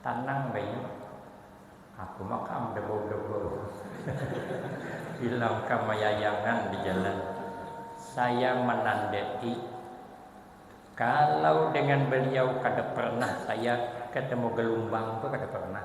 Tanang bayu, aku makam debau-debau. Bilang ka mayayangan di jalan, saya menandai kalau dengan beliau kada pernah saya ketemu gelumbang tu kada pernah.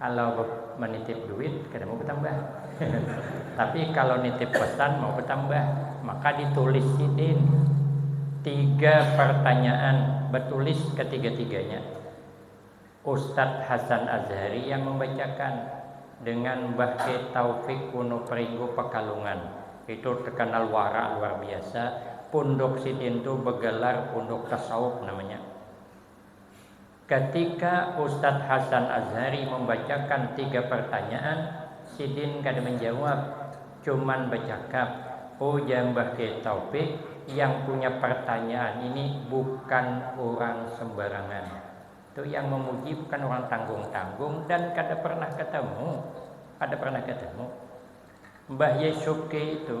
Kalau menitip duit kada mau betambah tapi kalau nitip pesan mau betambah maka ditulis sidin tiga pertanyaan betulis ketiga-tiganya Ustaz Hasan Azhari yang membacakan dengan Mbah K Taufik Wonopringgo Pekalongan itu terkenal wara luar biasa punduk sidin tu begelar punduk tasawuf namanya. Katika Ustadz Hasan Azhari mambacakan tiga partanyaan, sidin kada manjawab, cuman bacakap, ujar Mbah Kiai Taufik, yang punya partanyaan ini bukan urang sembarangan. Tu yang mamuji bukan urang tanggung-tanggung dan kada pernah ketemu, kada pernah ketemu. Mbah Yai Subki itu.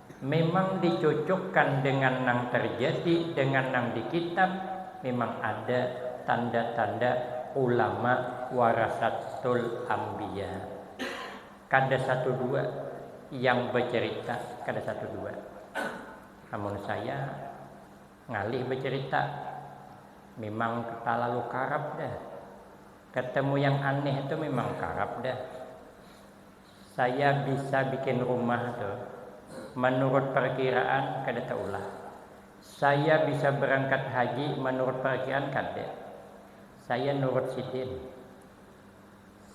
Memang dicucukkan dengan nang terjadi dengan nang di kitab memang ada tanda-tanda ulama warasatul ambiya kada satu dua yang becerita kada satu dua amun saya ngalih becerita memang talalu karap dah ketemu yang aneh tu memang karap dah. Saya bisa bikin rumah tu manurut parkiraan kada taulah. Saya bisa barangkat haji manurut parkiraan kada. Saya nurut sidin.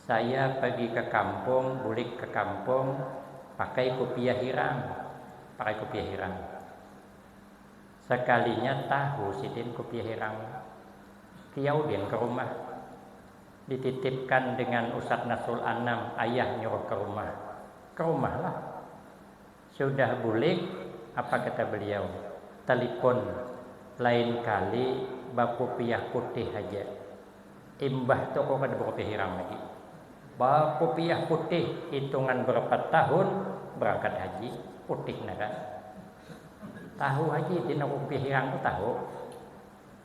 Saya pagi ka kampung bulik ka kampung pakai kupiah hirang. Pakai kupiah hirang. Sakalinya tahu sidin kupiah hirang. Kiyau din ka rumah. Dititipkan dengan Ustadz Nasrul Anam, ayah nyuruh ke rumah. Ke rumah lah. Sudah bulik, apa kata beliau, telipon, lain kali bakupiah putih haja. Imbah tu aku kada bakupiah hirang lagi. Bakupiah putih, hitungan berapa tahun berangkat haji, putih nah kan. Tahu haji, din aku kupiah hirang tu tahu.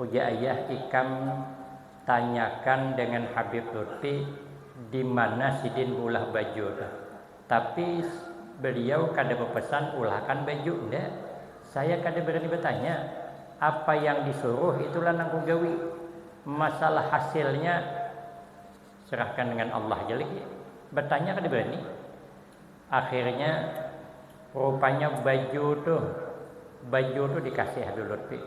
Ujar ayah ikam tanyakan dengan habib lutfi dimana sidin beulah baju tu. Tapi beliau kada bepesan ulahkan baju enda. Saya kada berani bertanya. Apa yang disuruh itulah nang kugawi. Masalah hasilnya serahkan dengan Allah ja lagi. Bertanya kada berani. Akhirnya rupanya baju tu baju tu dikasih habib lutfi.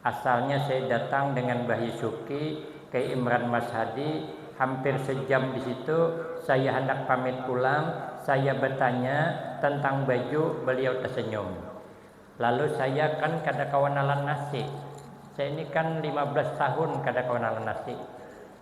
Asalnya saya datang dengan Bahi Syuki ke Imran Mas Hadi, hampir sejam di situ, saya handak pamit pulang, saya batanya tentang baju, beliau tasenyum. Lalu saya kan kada kawa nalan nasi, saya ni kan lima belas tahun kada kawa nalan nasi.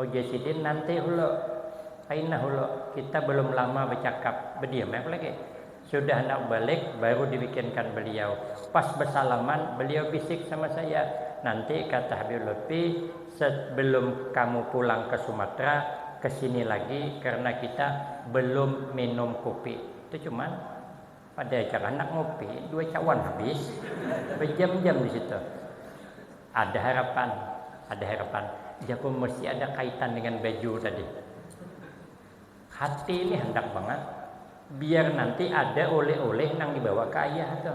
Ujar sidin, Nanti ulo. Kainah ulo, kita belum lama becakap. Bediam ai apalagi. Sudah handak balik, baru dibikinkan beliau. Pas besalaman, beliau bisik sama saya, Nanti, kata Habib Lutfi, sebelum kamu pulang ke Sumatera, kesini lagi karena kita belum minum kupi. Itu cuman. Pada ikam handak ngopi, dua cawan habis bajam-jam di situ. Ada harapan, ada harapan. Jaku mesti ada kaitan dengan baju tadi. Hati ini handak bangat biar nanti ada oleh-oleh nang dibawa ke ayah tu.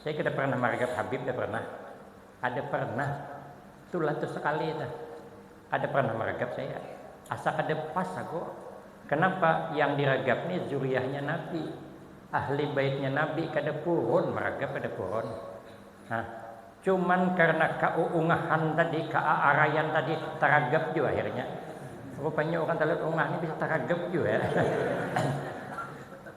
Saya kada pernah maragat Habib, kada pernah. Kada pernah. Itulah tu sekali itu. Kada pernah maragat saya. Asa kada pas aku. Kenapa yang diragap ni zuriyahnya Nabi, ahli baitnya Nabi, kada purun maragap, kada purun. Nah, cuman karena kauungahan tadi, kaaarayan tadi, taragap jua akhirnya. Rupanya urang talut ungah ni bisa taragap jua.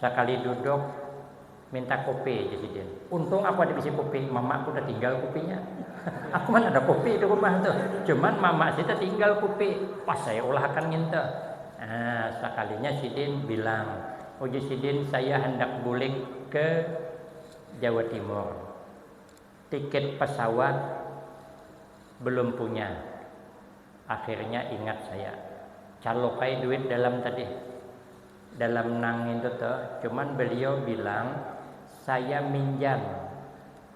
Sakali duduk, minta kupi ja sidin. Untung aku ada bisi kupi, mamaku tatinggal kupinya. aku mana ada kupi di rumah tu, cuman mama si tatinggal kupi, pas ai ulah akan nginta. Nah, sakalinya sidin bilang, ujar sidin saya handak bulik ke Jawa Timur, tiket pesawat belum punya. Akhirnya ingat saya, caluk ai duit dalam tadi. dalam nang itu tuh cuman beliau bilang saya minjam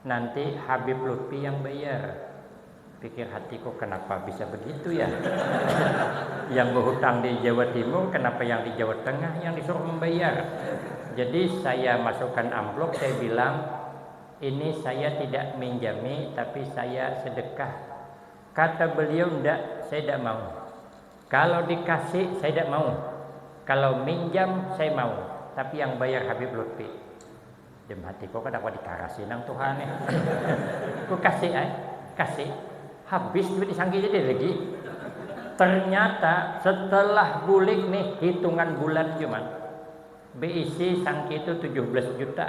nanti Habib Lutfi yang bayar pikir hatiku kenapa bisa begitu ya yang berhutang di Jawa Timur kenapa yang di Jawa Tengah yang disuruh membayar jadi saya masukkan amplop saya bilang ini saya tidak minjami tapi saya sedekah kata beliau ndak saya tidak mau Kalau di kasi saya dak mau, kalau minjam saya mau, tapi yang bayar Habib Lutfi. Dem hati ko kada kawa di karasi nang tuha nih. Ku kasi ai, kasi, habis duit di sangki jadi lagi. Ternyata setelah bulik nih hitungan bulan jua man, beisi sangki tu tujuh belas juta.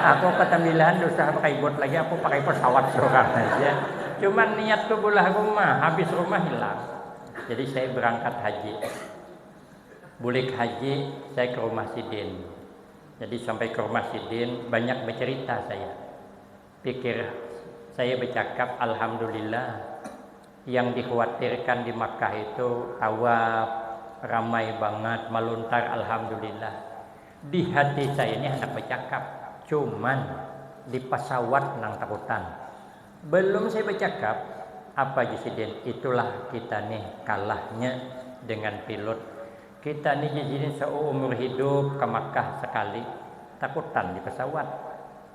aku ketembilahan dusah pakai bot lagi aku pakai pesawat surang haja cuman niat tu bulah rumah habis rumah hilang jadi saya berangkat haji bulik haji saya ke rumah sidin jadi sampai ke rumah sidin banyak becerita saya. Pikir saya becakap alhamdulillah, yang dikhuatirkan di Makkah itu tawaf, ramai bangat, maluntar alhamdulillah. Di hati saya ni handak becakap, cuman di pasawat nang takutan. Belum saya becakap, apa ja sidin, itulah kita ni kalahnya dengan pilot. Kita ni ja sidin seumur hidup ke Makkah sekali, takutan di pasawat.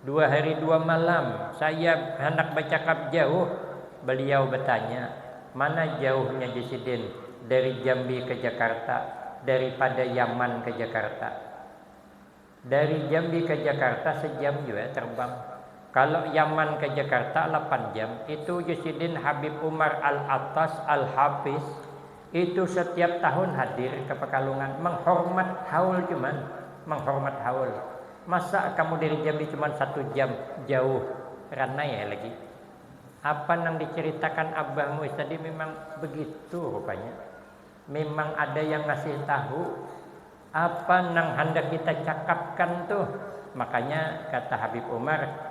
Dua hari dua malam saya handak bacakap jauh, beliau batanya, mana jauhnya ja sidin dari Jambi ka Jakarta daripada Yaman ka Jakarta. Dari Jambi ka Jakarta sejam jua terbang, kalo Yaman ka Jakarta lapan jam, itu ja sidin Habib Umar Al-Attas Al-Hafiz Itu satiap tahun hadir ka Pakalungan manghormat haul cuman manghormat haul. Masa kamu dari Jambi cuman satu jam, jauh, ranai ai lagi. Apa nang dicaritakan abah muis tadi mimang begitu rupanya. Mimang ada yang ngasih tahu apa nang handak kita cakapkan tuh. Makanya kata Habib Umar.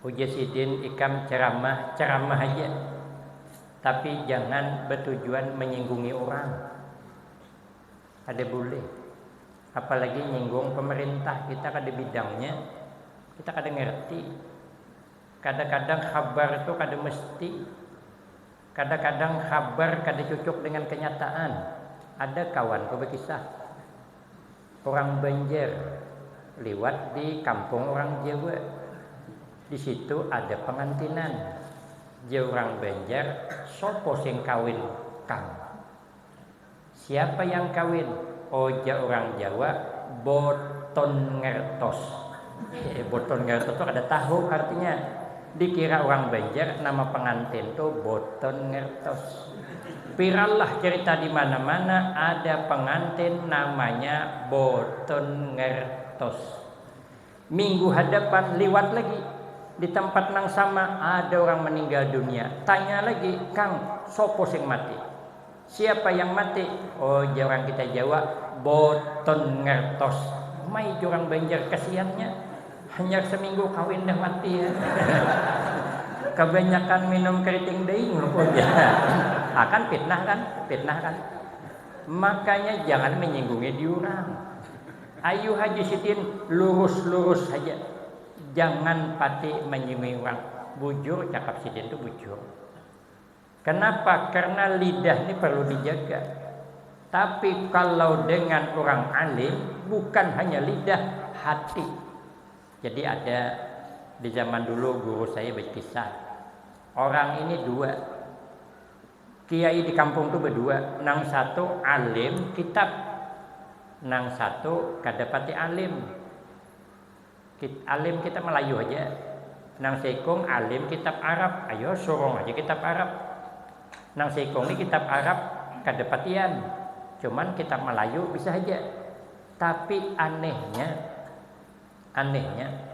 Ujar sidin ikam ceramah, ceramah haja, tapi jangan batujuan menyinggungi urang, kada bulih, apalagi nyinggung pemerintah, kita kada bidangnya, kita kada ngerti, kadakadang habar tu kada mesti, kadakadang habar kada cucuk dengan kenyataan, ada kawanku bakisah. Urang Banjar liwat di kampung urang Jawa. Di situ ada pangantinan. Jar urang Banjar, Sapa sing kawin kang? Siapa yang kawin? Oja urang Jawa boton ngertos. Boton Garut tu kada tahu artinya. Dikira urang Banjar nama pangantin tu Boton Ngertos. Piralah cerita di mana-mana ada pangantin namanya Boton Ngertos. Minggu hadapan liwat lagi di tampat nang sama ada urang maninggal dunia. Tanya lagi, Kang, sapa sing mati? Siapa yang mati? Oh jar urang kita Jawa, boton ngertos. Uma ija urang Banjar kasiannya, hanyar seminggu kawin dah mati. Kabanyakan minum keriting daing lho ujar. Ah kan fitnah kan, fitnah kan. Makanya jangan menyinggungi diurang. Ayu Haji Sidin lurus-lurus haja, jangan pati menyinggungi urang. Bujur cakap Sidin tu bujur. Kenapa? Karena lidah ni perlu dijaga. Tapi kalau dengan orang alim, bukan hanya lidah, hati. Jadi ada di zaman dulu guru saya berkisah. Orang ini dua. Kiai di kampung itu berdua. Nang satu alim kitab. Nang satu kadapati alim. Alim kitab Melayu haja. Nang seikung alim kitab Arab. Ayo surung haja kitab Arab. Nang seikung ni kitab Arab kada patian. Cuman kitab Melayu bisa haja. Tapi anehnya, anehnya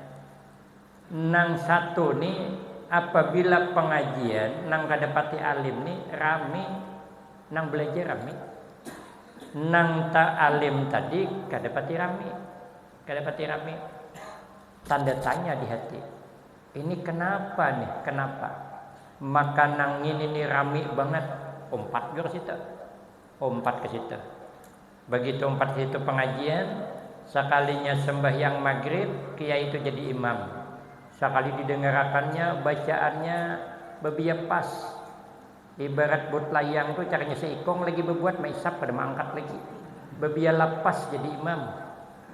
nang satu ni apabila pengajian nang kada pati alim ni rami, nang belajar rami. Nang ta alim tadi kada pati rami. Kada pati rami. Tanda tanya di hati. Ini kenapa nih, kenapa. Maka nang ngini nih rami bangat. Umpat jua ka situ. Umpat ka situ. Bagitu umpat ka situ pengajian, sakalinya sembahyang magrib, kiai tu jadi imam. Sakali didengarakannya bacaannya babiak pas. Ibarat buat layang tu caranya seikong lagi bebuat maisap kada maangkat lagi. Bebiar lapas jadi imam.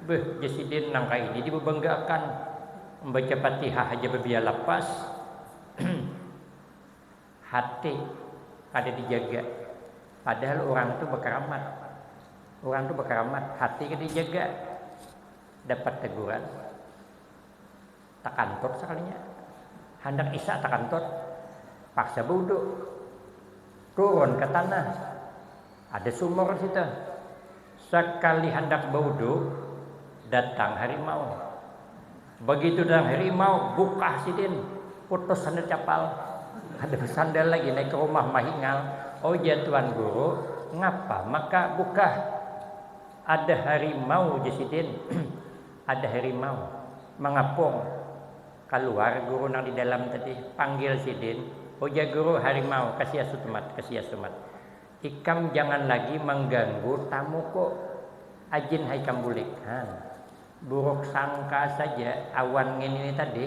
Beuh jar sidin nang kaini dibebangga akan. Membaca fatihah haja bebiar lapas. Hati kada dijaga. Padahal urang tu bekeramat. Urang tu bekeramat hati kada dijaga. Dapat teguran. takantur sakalinya, handak isya takantur, paksa baudu, turun ka tanah, ada sumur di situ, sakali handak baudu datang harimau, bagitu datang harimau bukah sidin, putus sandal capal, kada basandal lagi naik ka rumah mahingal, ujar tuan guru ngapa maka bukah, ada harimau ujar sidin. Ada harimau mangapung kaluar guru nang di dalam tadi, panggil sidin, ujar guru harimau ka si asutumat, ka si asumat, ikam jangan lagi mangganggu tamuku, ajin ha ikam bulik, han, buruk sangka saja awan ngini ni tadi.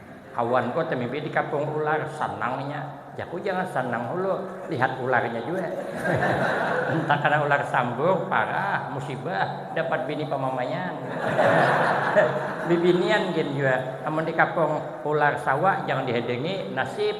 Kawan ko temimpi di kapung ular, sanang inya. Jaku jangan sanang hulu, lihat ularnya jua. Mun takana ular sambur, parah, musibah, dapat bini pamamaian. Bibinian gin jua, amun di kapung ular sawa jangan dihadangi, nasib.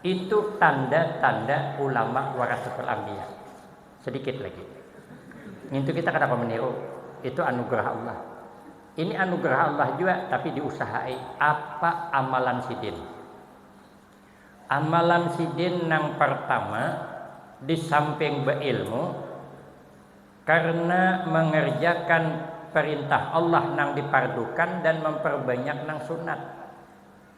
Itu tanda tanda ulama warasatul ambiya. Sedikit lagi. Ngintu kita kada kawa meniru. Itu anugerah Allah. Ini anugerah Allah jua tapi diusahai apa amalan sidin. Amalan sidin nang pertama disamping beilmu karena mengerjakan perintah Allah nang dipardukan dan memperbanyak nang sunat.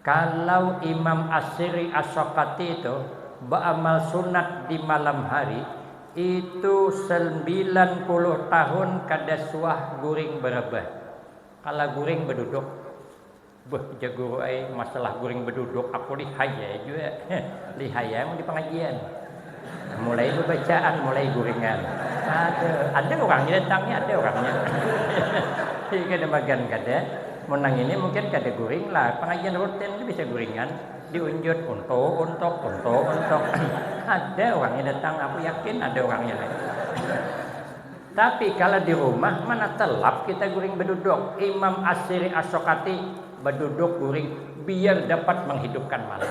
Kalau Imam As-Sirri As-Saqati itu baamal sunat di malam hari, itu salmbilan puluh tahun kada suah guring barebah. Kala guring baduduk. Beuh jar guru ai, masalah guring baduduk aku lihai ai jua. Lihai ai mun di pangajian. Mulai bebacaan, mulai guringan. Ada, ada urangnya datang ni, ada urangnya. Jadi kada magan kada. Mun nang ini mungkin kada guring lah, pengajian rutin tu bisa guringan, diunjut untu untuk, untu untuk. ada urangnya datang, aku yakin ada urangnya ni. Tapi kala di rumah mana telap kita guring beduduk. Imam Asyiri Asokati beduduk guring biar dapat menghidupkan malam.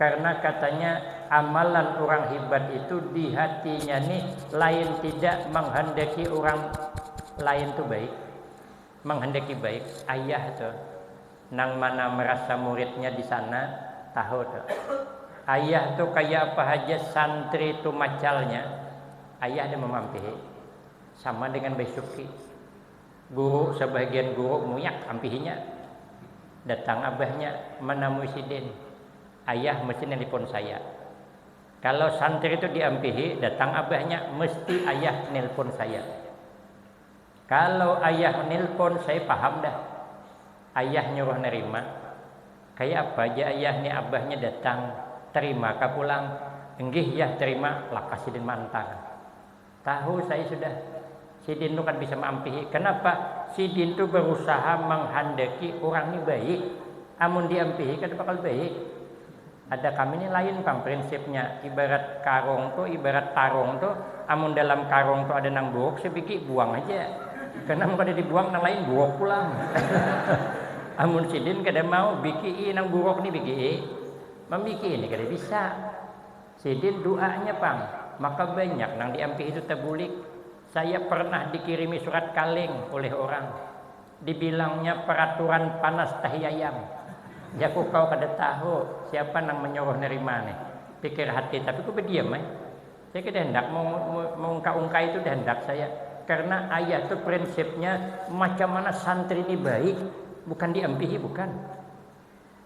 Karna katanya amalan urang hibat itu di hatinya ni lain tidak manghandaki urang lain tu baik, manghandaki baik. Ayah tu nang mana marasa muridnya di sana tahu tu. Ayah tu kaya apa haja santri tu macalnya, ayah ada mamampihi. Sama dengan baisuki. Guru, sabagian guru muyak ampihinya. Datang abahnya manamui sidin. Ayah, mesti nelpon saya. Kalau santri tu diampihi, datang abahnya, mesti ayah nelpon saya. Kalau ayah nelpon, saya paham dah. Ayah nyuruh nerima. Kaya apa ja ayah ni abahnya datang, terima kah pulang? Enggih yah terima, lakas sidin maantar. Tahu saya sudah, sidin tu kada bisa maampihi. Kanapa? Sidin tu barusaha manghandaki urang ni baik. Amun diampihi kada bakal baik. Ada kami ni lain pang prinsipnya. Ibarat karung tu, ibarat tarung tu, amun dalam karung tu ada nang buruk sabigi, buang haja. Karena amun kada dibuang nang lain buruk pulang. Amun sidin kada mau bikii nang buruk ni bikii, mambikii ni kada bisa. Sidin duanya pang, maka banyak nang diampihi tu tabulik. Saya pernah dikirimi surat kaleng oleh orang, dibilangnya peraturan panas tahiayam. Jaku kawa kada tahu siapa nang manyuruh nerima nih. Pikir hati tapi ku badiam ai. Saya kada handak maungka-ungkai tu kada handak saya, karena ayah tu prinsipnya macam mana santri ni baik bukan diampihi bukan.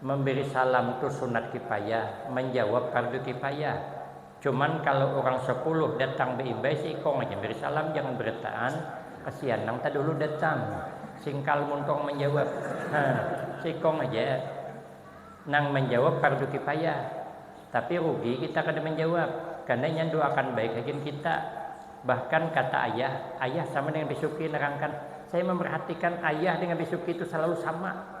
Memberi salam tu sunat kifayah, menjawab fardu kifayah. Cuman kalo urang sapuluh datang beimbay seikong aja beri salam jangan berataan, kasian nang tadahulu datang, singkal muntung menjawab, ha seikong aja nang menjawab fardu kifayah. Tapi rugi kita kada menjawab, karna inya doakan baik hagin kita. Bahkan kata ayah, ayah sama dengan bisuki nerangkan, saya memerhatikan ayah dengan bisuki tu salalu sama.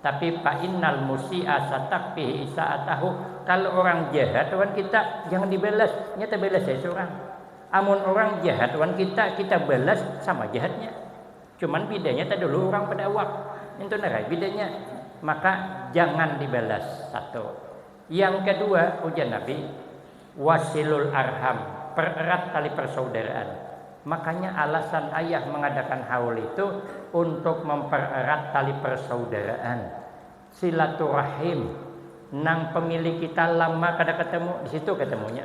Tapi fa'innal musi'a satakfihi isaatahu, kalo urang jahat wan kita jangan dibalas, nya tabalas ai surang. Amun urang jahat wan kita, kita balas sama jahatnya. Cuman bidanya tadahulu urang pada awak. Intu nah ai bidanya. Maka jangan dibalas, satu. Yang kedua, ujar Nabi, Wasilul arham, pererat tali persaudaraan. Makanya alasan ayah mengadakan haul itu untuk mempererat tali persaudaraan, silaturahim, nang pemilih kita lama kada ketemu, di situ ketemunya.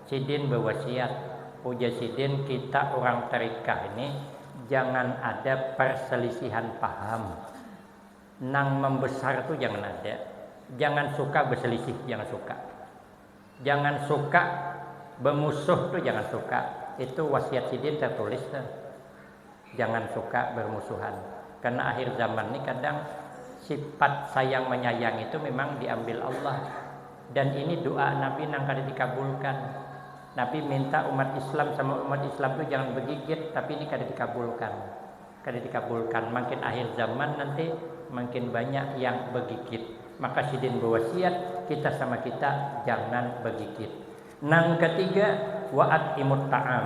Sidin bawasiat, ujar sidin kita urang tarikah ini jangan ada parsalisihan paham. Nang mambesar tu jangan ada. Jangan suka baselisih, jangan suka. Jangan suka bamusuh tu jangan suka. Itu wasiat sidin tartulis tu. jangan suka bermusuhan karena akhir zaman ini kadang sifat sayang menyayang itu memang diambil Allah dan ini doa Nabi nang kada dikabulkan Nabi minta umat Islam sama umat Islam itu jangan bergigit tapi ini kada dikabulkan kada dikabulkan makin akhir zaman nanti makin banyak yang bergigit maka sidin berwasiat kita sama kita jangan bergigit nang ketiga waat imut ta'am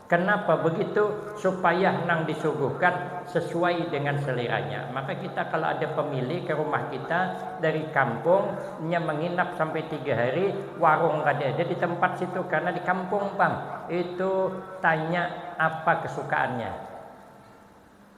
Kenapa begitu? Supaya nang disuguhkan sesuai dengan seleranya. Maka kita kalau ada pemilih ke rumah kita dari kampung, nya menginap sampai tiga hari, warung kada ada di tempat situ karena di kampung pang. Itu tanya apa kesukaannya.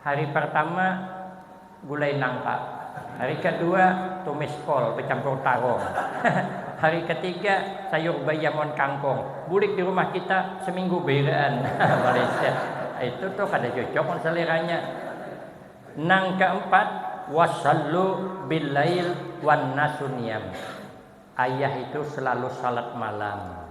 Hari partama gulai nangka, hari kadua tumis kol bacampur tarong, hari katiga sayur bayam wan kangkong. Bulik di rumah kita saminggu bairaan maliset. Itu tu kada cocok wan saleranya. Nang kaampat, Wasallu billail wan nasu niyam. Ayah itu selalu salat malam.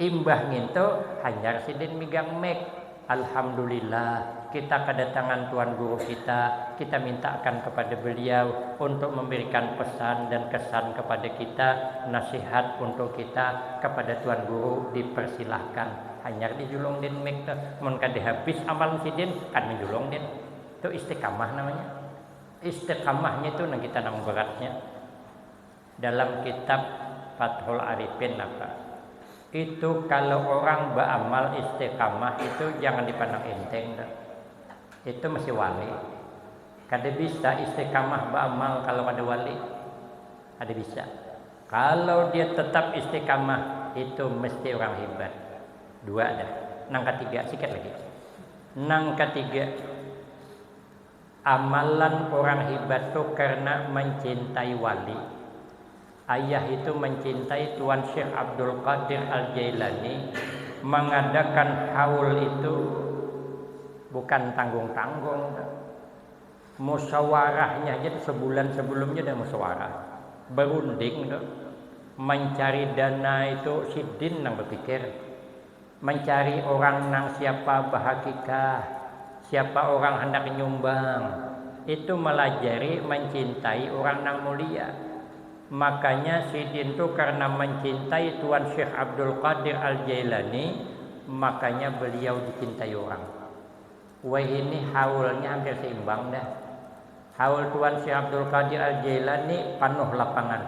Imbah ngintu, hanyar sidin migang mik. Alhamdulillah, kita kadatangan Tuan Guru kita, kita mintaakan kepada beliau untuk memberikan pesan dan kesan kepada kita, nasihat untuk kita, kepada Tuan Guru dipersilahkan. Hanyar dijulung din mik tu. Mun kada habis amalan sidin, kada menjulung din. Tu istiqamah namanya. Istiqamah ngitu nang kita nang beratnya. Dalam kitab fathul arifin napa itu kalo orang baamal istiqamah itu jangan dipandang inteng dah itu mesti wali kada bisa istiqamah baamal kalo kada wali kada bisa kalo dia tetap istiqamah itu mesti orang hibat dua dah nang katiga sikit lagi nang katiga Amalan urang hibat tu karna mancintai wali. Ayah itu mancintai Tuan Syekh Abdul Qadir Al-Jailani, mangadakan haul itu bukan tanggung-tanggung tu. Musyawarahnya haja tu sebulan sebelumnya sudah musyawarah, berunding tu. Mancari dana itu sidin nang bepikir. Mancari orang nang siapa bahakikah, siapa orang handak nyumbang, itu malajari mancintai orang nang mulia. Makanya sidin tu karna mancintai Tuan Syekh Abdul Qadir Al Jailani, makanya beliau dicintai orang. Wahini haulnya hampir seimbang dah. Haul Tuan Syekh Abdul Qadir Al-Jailani panuh lapangan.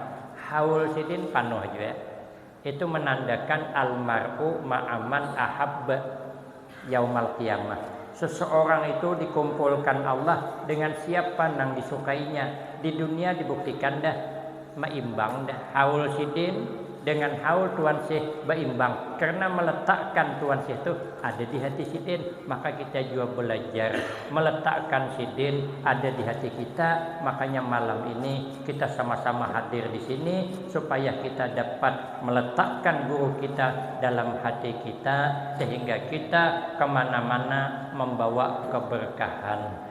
Haul sidin panuh jua. Itu menandakan Al-mar'u ma'aman ahabba yaumal qiyamah. Seseorang itu dikumpulkan Allah dengan siapa nang disukainya. Di dunia dibuktikan dah. Maimbang dah haul sidin dengan haul tuan syekh baimbang karena meletakkan tuan syekh tu ada di hati sidin maka kita jua belajar meletakkan sidin ada di hati kita makanya malam ini kita sama-sama hadir di sini supaya kita dapat meletakkan guru kita dalam hati kita sehingga kita kemana-mana membawa keberkahan.